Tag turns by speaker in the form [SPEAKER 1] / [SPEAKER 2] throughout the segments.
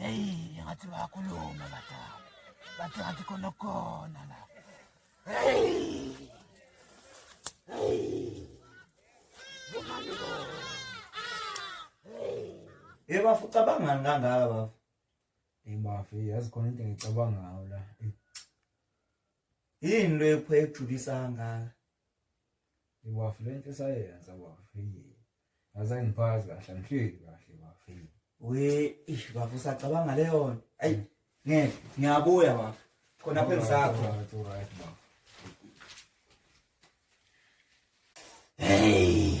[SPEAKER 1] Hey, ngathi bayakhuluma badala. Bathi ngathi khona khona la. Hey! Hey! Bomani bo. Hey! Hey bafu cabangani
[SPEAKER 2] kangaka bafu? Hey bafu
[SPEAKER 3] yazi khona into engicabanga ngayo la.
[SPEAKER 2] Yini lo ephwe ejulisa kangaka?
[SPEAKER 3] iwafu le nto esayenza wafile ngaze ngiphazi kahle angihleli kahle wafile we ish
[SPEAKER 2] bafu usacabanga leyo nto ayi ngeke ngiyabuya bafu khona phe ngisakho hey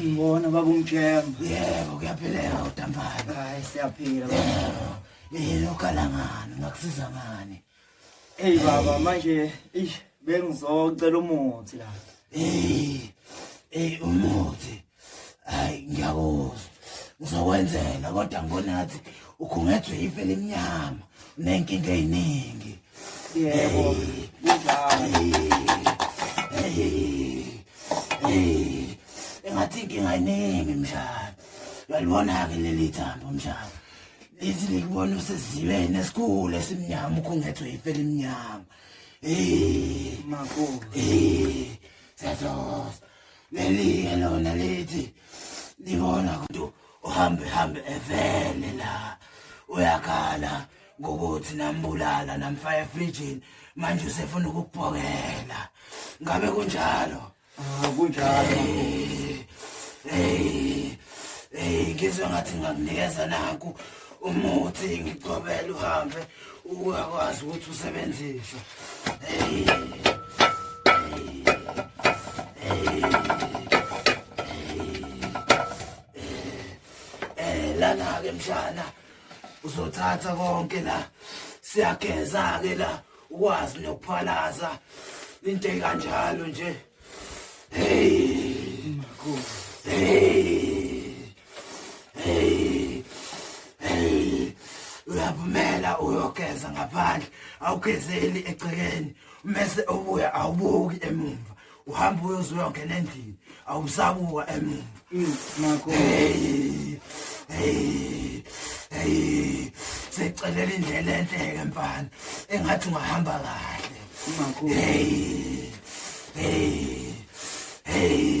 [SPEAKER 1] Ngibona baba umjemba.
[SPEAKER 2] Yebo kuyapheleka
[SPEAKER 1] udampana. Hayi siyaphila
[SPEAKER 2] baba.
[SPEAKER 1] Ilokha langani ngakusiza ngani? Hey baba
[SPEAKER 2] manje ish bengizocela umuthi la. Hey. Hey
[SPEAKER 1] umuthi. hayi ngiyakuzwa ngizokwenzela kodwa ngonathi ukhungethwe ife limnyama unenkinga eyiningi
[SPEAKER 2] yebo
[SPEAKER 1] engathi inkinga eyiningi mshana uyalibona-ke leli thambo mshana lithi likubona usezibeni esikhulu esimnyama ukhungethwe ife limnyama Hey, Marco.
[SPEAKER 2] Hey, Santos.
[SPEAKER 1] leliye lona lithi libona ukuthi uhambe hambe evele la uyakhala ngokuthi nambulala namfaka efrijini manje usefuna ukubhokela ngabe kunjalo ah, kunjalo
[SPEAKER 2] hey
[SPEAKER 1] hey ngizwe ngathi ngakunikeza naku umuthi ngigcobele uhambe ukwazi ukuthi usebenzise lana-ke mshana uzothatha konke la siyageza-ke la ukwazi nokuphalaza into ekanjalo nje hey hey hey hey uyabumela uyogeza ngaphandle awugezeli egcekeni mese obuya awubuki emumva uhamba uyoze uyongena endlini awusabuka emuva mm, nakho secelele indlela enhleke mfana engathi ungahamba kahle nakho hey
[SPEAKER 2] hey hey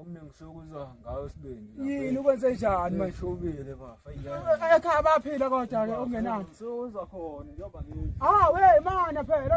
[SPEAKER 3] Omningi sokuzwa ngawo sibindi. Yini ukwenze njani
[SPEAKER 4] manje? Shobile bafa.
[SPEAKER 3] Ekhaya baphila
[SPEAKER 4] kodwa ke ongenani. Sokuzwa khona
[SPEAKER 3] njengoba ngithi. Ah we mana
[SPEAKER 4] phela.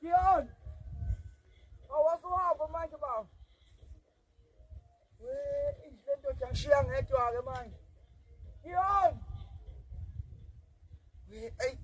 [SPEAKER 2] Dion! Awasuhamba manje baba. We, inhle lendoda ngishiya ngedwa ke manje. Dion! We, ay.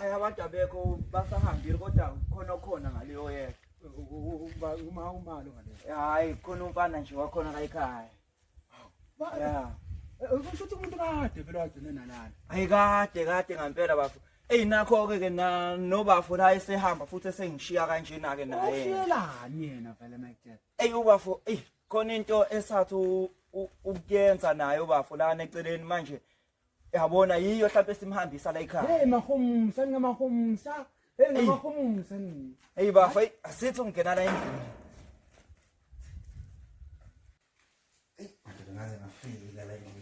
[SPEAKER 2] hayi abantu abekho basahambile kodwa khona okhona ngaleyo yeka uma umalo
[SPEAKER 4] ngale hayi khona umfana
[SPEAKER 2] nje wakhona la ekhaya ya eh, kusho
[SPEAKER 4] ukuthi umuntu kade vele wagcine nalana hayi kade
[SPEAKER 2] kade ngampela bafo Ey nakho ke ke na nobafo la esehamba futhi esengishiya kanjena ke naye. Ushiyelani yena
[SPEAKER 4] vele Michael? Ey ubafo ey
[SPEAKER 2] khona into esathi ukuyenza naye ubafo la neceleni manje yabona yiyo mhlawumbe simhambisa la ekhaya. Hey mahumsa
[SPEAKER 4] ngamahumsa. Hey ngamahumsa. Ey bafo asithi
[SPEAKER 2] ungena la endlini. Ey ngaze ngafika la
[SPEAKER 1] endlini.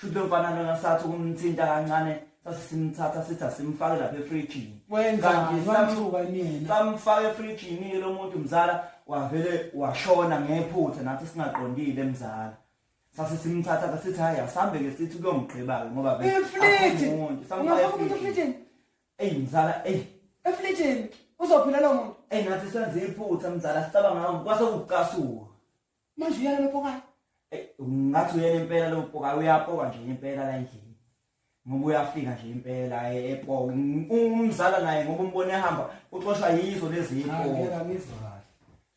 [SPEAKER 2] Shuthi lomfana lona sathi ukumthinta kancane sasimthatha sithi asimfake lapha efrijini. Wenzani
[SPEAKER 4] wamthuka yena. Samfaka efrijini
[SPEAKER 2] ke lo muntu mzala wavele washona ngephutha nathi singaqondile mzala. Sase simthatha ke sithi hayi asambe ke sithi kuyomgqiba ke ngoba vele. Efrijini.
[SPEAKER 4] Ungafaka umuntu efrijini. Ey mzala
[SPEAKER 2] ey. Efrijini
[SPEAKER 4] uzophila lo muntu. Ey nathi senze iphutha
[SPEAKER 2] mzala sicabanga kwase kucasuka. manje uyala
[SPEAKER 4] lopokayo eh, ngathi
[SPEAKER 2] uyena impela lopokayo uyapoka nje impela la endlini ngoba uyafika nje impela eh, epoka umzala naye ngoba umbone ehamba uxoshwa yizo lezi impela ngizwa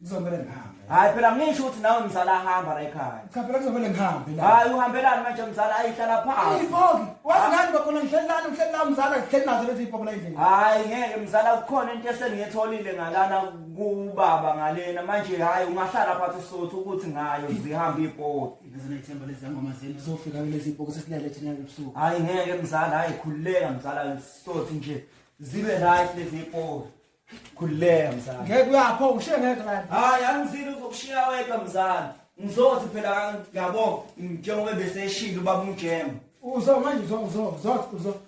[SPEAKER 2] ngizomele
[SPEAKER 4] ngihambe hayi phela ngisho ukuthi
[SPEAKER 2] nawe mzala ahamba la ekhaya cha phela ngizomele ngihambe
[SPEAKER 4] la hayi uhambelani manje
[SPEAKER 2] mzala ayihlala phansi ipoki wazi ngani
[SPEAKER 4] bakhona ngihleli lana ngihleli la mzala ngihleli nazo lezi ipoki la endlini hayi ngeke mzala
[SPEAKER 2] kukhona into esengiyetholile ngalana kubaba ngalena manje hayi ungahlala phansi usothu ukuthi ngayo zihamba ibhodi ngizinethemba lezi ngoma
[SPEAKER 4] zenu zizofika kulezi ibhoko sesilele thina ebusuku hayi ngeke mzala
[SPEAKER 2] hayi khululeka mzala sothi nje zibe right lezi ibhodi khululeka mzala ngeke uyapho ngishiye
[SPEAKER 4] ngeke la hayi angizile
[SPEAKER 2] uzokushiya wedwa mzala ngizothi phela ngiyabo njengoba bese eshilo baba umjema uzo manje uzo
[SPEAKER 4] uzo uzo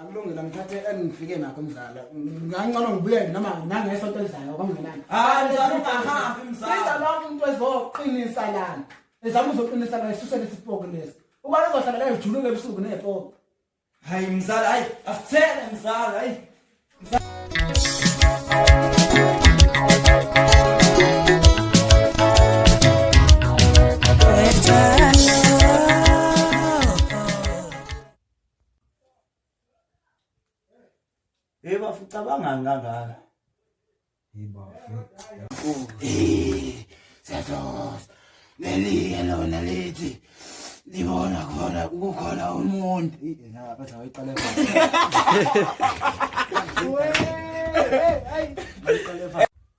[SPEAKER 4] akulungile ngithathe engifike nakho mzala ngancono ngibuye noma nangesonto elizayo kwangenani hayi mzala ungahambi mzala
[SPEAKER 2] siza lonke umuntu
[SPEAKER 4] ezoqinisa lana ezama uzoqinisa la isuse lesipoko lesi uba lizohlala la ijuluke ebusuku nepoko hayi
[SPEAKER 2] mzala hayi asithele mzala hayi Hey bafu cabangani kangaka? Hey bafu. Eh,
[SPEAKER 1] Satos. Neliye lona lithi libona khona kukhona umuntu. Na batha wayiqale
[SPEAKER 4] phansi. Hey, hey, hey.